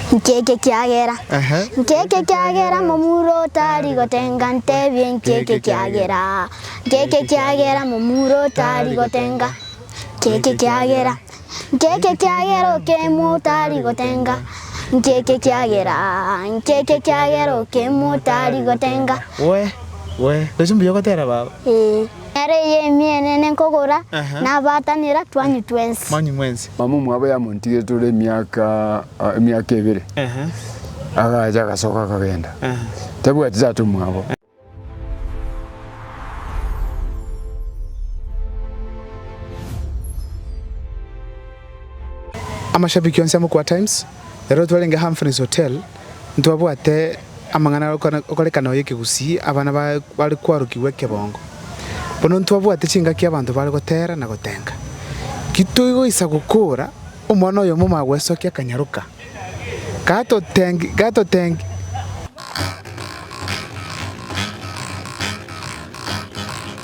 Inki eke kiagera? Ehe. Inki eke kiagera momura otari gotenga? Ntebie, inki eke kiagera? Inki eke kiagera momura otari gotenga? Inki eke kiagera? Inki eke kiagera okemwa otari gotenga? Inki eke kiagera? Inki eke kiagera okemwa otari gotenga? Wee, wee, gochi mbuya ogotera baba. Ee. Ere eye emiene nenkogora, nabaatanera twanyu twensi. Mama omwabo yamontigire tore emiaka emiaka ebere, agacha agasoka akagenda, tabwati tata omwabo. Amashabiki onsi a Mokwa Times, ero twarenge Humphreys Hotel. ntibabwate amang'ana are okorekana oyo ekegusii abana bare kwarokigwa ekebongo. Bono ntibabwate chingaki abanto bare gotera na gotenga. Titoigoisa gokora omwana oyomo omagwesokia akanyaroka, gatotengia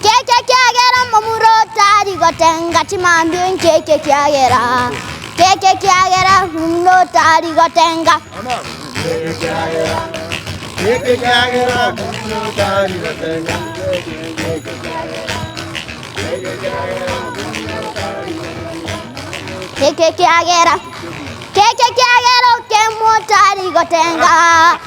Nk'ekio kiagera omomura otari gotenga chimambia enki ekio kiagera, nk'ekio kiagera omomura otari gotenga. Nk'ekio kiagera, nk'ekio kiagera okemwa otari gotenga.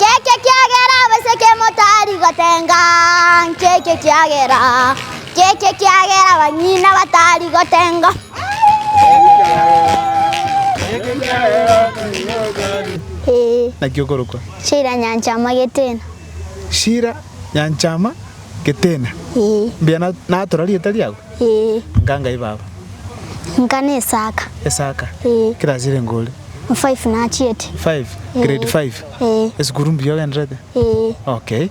Nk'ekio ekiagera abaseke motari gotenga, nk'ekio ekiagera, nk'ekio ekiagera abanyina batari gotenga. Ee, Naki okorokwa shira nyancha amagetena. Shira nyancha ama getena. Ee, Mbuya na- natura rieta riago. ee, Nka ngai baba. nka nesaka. Esaka. Ee. Kera asire ngore. Form five nachiete. Five? Ee. Grade five? Ee. Esukuru mbuya ogenderete? Ee. Okay.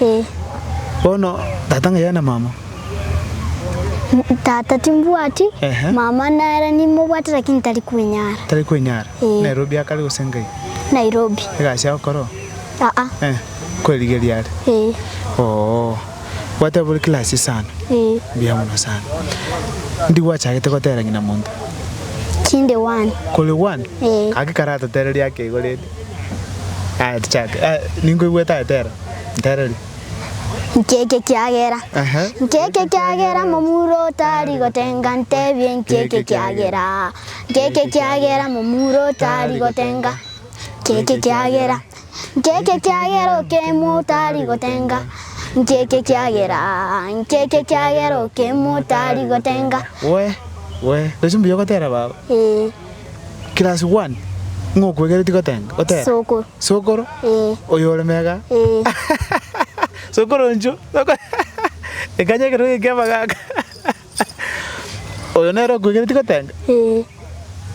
Ee. Bono tata ng'ai aye na mama? Tata timbwati, Ehe. mama nere nimobwate lakini tari kwenyara. Tari kwenyara? Ee. Nairobi akare gose ngai? Nairobi. Egasi agokora oo? Aa. Eh. Kwerigeria are? Ee. Oo. Gwateba ore class sana. Mbuya mono sana. Ndi gwachagete gotera ng'ina monto. Chinde one. Kore one? Eh. Gaki karatotereria ake igo rende. Aya tichake. Ah, ningo igweta etera. Ntereria. Ncheke kiagera. Aha. Ncheke kiagera momuro tari gotenga ntebie ncheke kiagera. Ncheke kiagera momuro tari gotenga. Ncheke kiagera. Ncheke ekiagera okemwa otari gotenga, Ncheke ekiagera, ncheke ekiagera okemwa otari gotenga. Wee, wee, tochi mbuya ogotera baba. Ee, Class one, ng'a okwegereti gotenga, gotera. Sokoro. Sokoro? Ee. Oyo ore mega? Ee. Sokoro ncho, soko ekanya ekero egekeba gaka. Oyo nere okwegereti gotenga?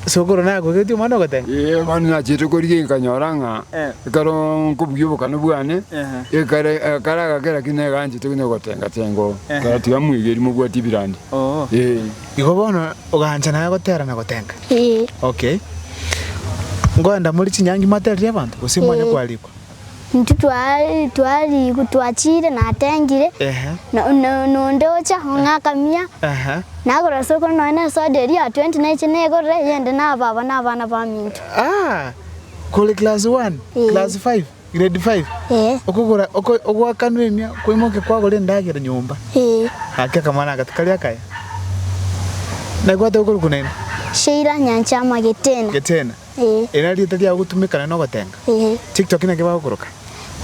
Sokoro nakwegereti omwana ogotenga? Ee, bono nachete korigia nkanyora ng'a Eh. ekero nkobugia obokane bwane, Ehe. ekare ekare agakera ki neganchete buna ogotenga tenga oo. Ehe. Karatiga mwegeri mobwati ebirandi. Oo. Ee. Igo bono ogancha naye gotera na gotenga? Okay. Ngoenda more chinyangi mwaterire abanto gose mwanya kwarikwa? Intwe twari twachiire natengire, nonde ocha ong'akamia, nagora ase okoro nonya ne soda eria ya twenty naiche negorere eyende naba aba nabana baminto. Kore class one, class five, grade five, okogora ogoakanwa emia kwaimokia kwagora endagera nyomba. Gaki akamwana aka tikari akaya. Naki gwatoka korokwa naende? Sheila Nyanchama Getena. Eri nari rieta riao ogotumeka naende nogotenga? Tiktok naki bagokoroka?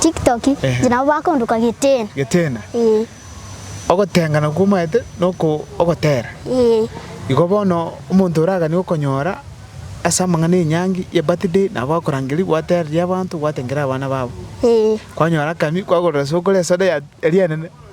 Tiktok inche nabo bakondoka Geteena. Geteena? Ogotenga nakwo omaete noko ogotera. Igo bono omonto oragani okonyora ase amang'ana enyangi ya birthday nabo bakorangeria gwatereria abanto gwatengera abana babo. Kwanyora akanywa kwagorera sokoro esoda ya rianene.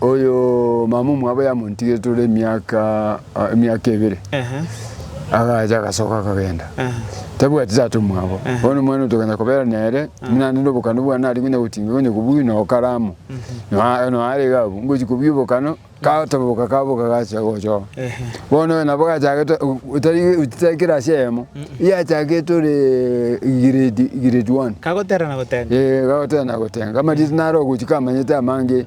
Oyo mama omwabo yamontigete ore emiaka ah, emiaka ebere Ehe. agacha agasoka akagenda Ehe. tabwati tata omwabo Ehe. bono omwana otoganya kobera nere buna nende obokano bwane ari konya gotinga konya kobui na okaramo Noa- noarege abwo ngochi kobui obokano katoboka kaboka gachia gochoo Ehe. bono oyo nabo gachagete otitakera ase eyemo yachagete ore grade grade one Kagoterana gotenga. Eh, gagotena gotenga amarita naro ogochika amanyete amange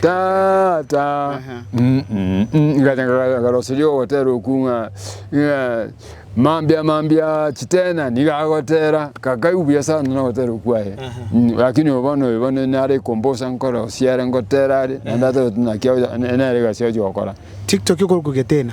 Tata, ngaroseria ogotera okwo ng'a mambia mambia chitena niga agotera, kakaigu buya sana nogotera okwo aye. Rakini oyo bono oyo bono nare kombosa nkore osiare ngotera are, naende atareti naki nere egasi ochi gokora. Tiktok okorokwa getena.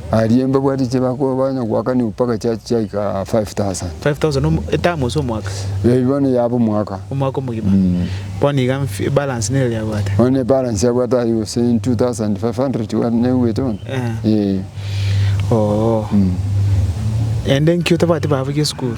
Aria embabwa riche bakoa banya goakania opaka chiacha chiaika 5000. 5000 omo, etamu ase omwaka? Ee, bono yaba omwaka. Omwaka omogima. Mm. Bono iga mf- ebalance nero yabwate. Bono ebalance abwate aye gose 2500 wa- naigwete bono? Eh. Ee. Oo. Mm. Naende nki otabwati babugia esukuru?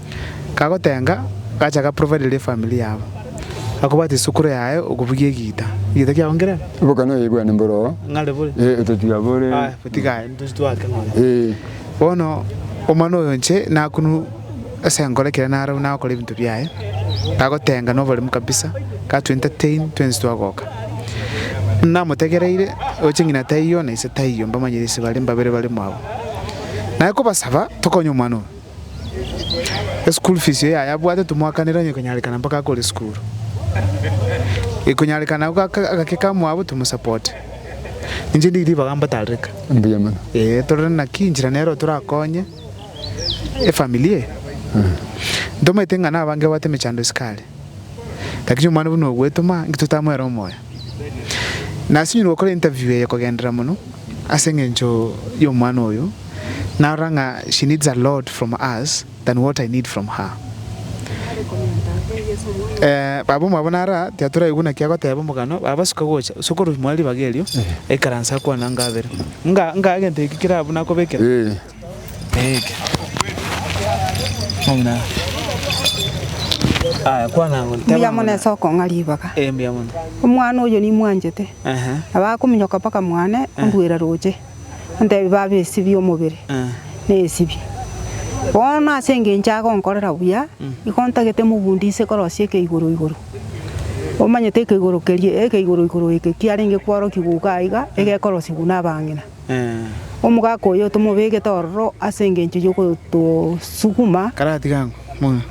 Kagotenga, gacha ga provider efamiri yabo. Gakobwata esukura yaye okobugia egiita. Egiita kiago nkere? Boka noyo aibwane mboro oo. Ng'are bore? Ee, totiga bore. Aya, botiga aye, ntoche twake ng'ore. Ee. Bono omwana oyo nche nakunwe ase enkoro ekero narue nagokora ebinto biaye, kagotenga noboremu kabisa, ka to entertain twensi twagoka. Namotegereire, oche ng'ina taiyo na ise taiyo, mbamanyire ise bare, mbabere baremo abwo. Naye kobasaba, tokonye omwana oyo. Eschool fees eye aye abwate tomwakanera onye konyarekana mpaka akore esukuru. Ekonyarekana agwo agake kamwabo tomosapote. Inche ndi ribaga mbatarereka. Mbuya mono. Ee torore naki inchera nero torakonye efamily eye. Ntomanyete ng'a nabange babwate emechando esiko are. Lakini omwana buna ogwetoma inki totamoera omoyo. Nasinyorwe gokora interview eye kogenderera mono ase engencho y'omwana oyo, narora ng'a she needs a lot from us than what I need from her. Eh, baba omwabo naro aa, tiatoraigwe naki agoteba omogano, baba suka gocha, ase okorwa moe ribaga erio, aikaranse akwane angabere. Ng'a, ng'a egento eke kerabu nakobekera. Eh. Mbuya mono ase okong'a ribaga. Omwana oyo nimwanchete. Nabo akominyoka mpaka mwane, onduere roche, ontebie, Baba, esibie omobere, nesibie. Bono ase engencho agonkorera buya, nigo ontagete mogundi inse korosia eke igoro igoro. Omanyete eke igoro keria, eke igoro igoro eke kiarenge kwarokigwa iga iga, egekorosiwu nabang'ina. Omogaka oyo tomobegete ororo ase engencho y'ogotosuguma. Karatiga ang'o mono?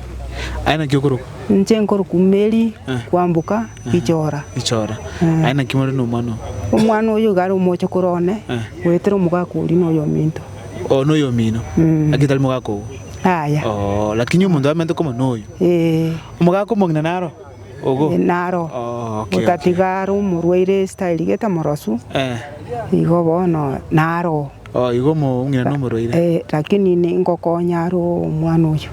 Aye naki okorokwa? Inche nkorokwa Mary, kwamboka Ichora. Ichora. Aye naki more nomwana oo? Omwana oyo iga are omochokoro one, goetera omogaka oria noyominto. Oo noyomino? Naki tari mogaka obo? Yaya. Oo, lakini omonto amenete koma noyo? Ee. Omogaka omong'ina naro? Naro gotatiga are omorwaire Isiraeli gete morosu, igo bono naro oo, ee, lakini ningokonya are omwana oyio.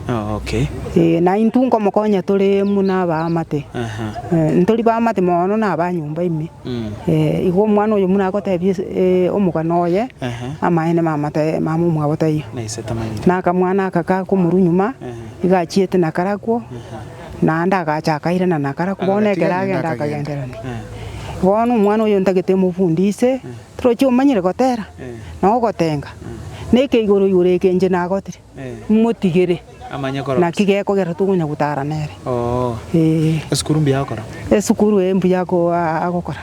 Ee, na intwe nkomokonya tore buna abaamate, ntori baamate mono na abanyomba ime. Ee, igo omwana oyo buna agotebia omogano oye, amaene mamate mamomwabo taiyo. Na akamwana aka kakomorwa nyuma, iga achiete na karakwo. Naende agacha akairana na Karaku bono ekero agenda akagenderania. Bono omwana oyo ntagete mofundi ise, toroche omanyire gotera, na ogotenga, na ekeigoro igoro eke inche nagotire, motigere, naki gekogera tokonya gotara nere. Ee. Esukuru mbuya agokora.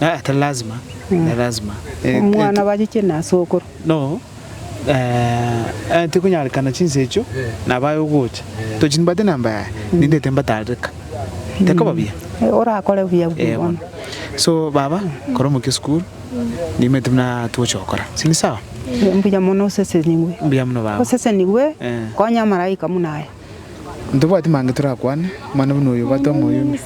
Ah, tari lazima, tari lazima. Eh, eh, Omwana ti- bachiche na sokoro. No, eh, eh, tikonyarekana chinsa echio, nabaye ogocha. Tochi nibate namba yaye, nindete mbatareka. Tekoba buya. Eh, Orakore buya buya Eh, bono. bono. So, baba, kora omokia esukuru, nimete buna twoche gokora. Sini sawa? Eh, Mbuya mono osesenigwe. Mbuya muno baba. Osesenigwe, Eh. konya amaraika buna aya. Ntobwati mange torakwane, omwana buna oyo obwate omoyomia.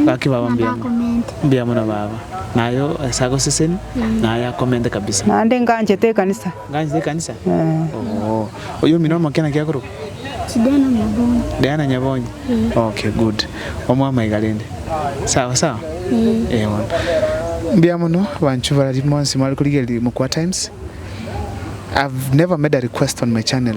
Gaki baba mbuya mono. Mbuya mono baba. Naye ase agoseseni naye akomente kabisa. Naende nganchete ekanisa. Nganchete ekanisa? Ooh. Oyo omino omokia naki akorokwa? Diana Nyabonyi. Diana Nyabonyi? Okay good. Omwama iga rende. Sawa sawa? Eeh bono. Mbuya mono abanchwa barari monsi mware korigereria Mokwa Times. I've never made a request on my channel.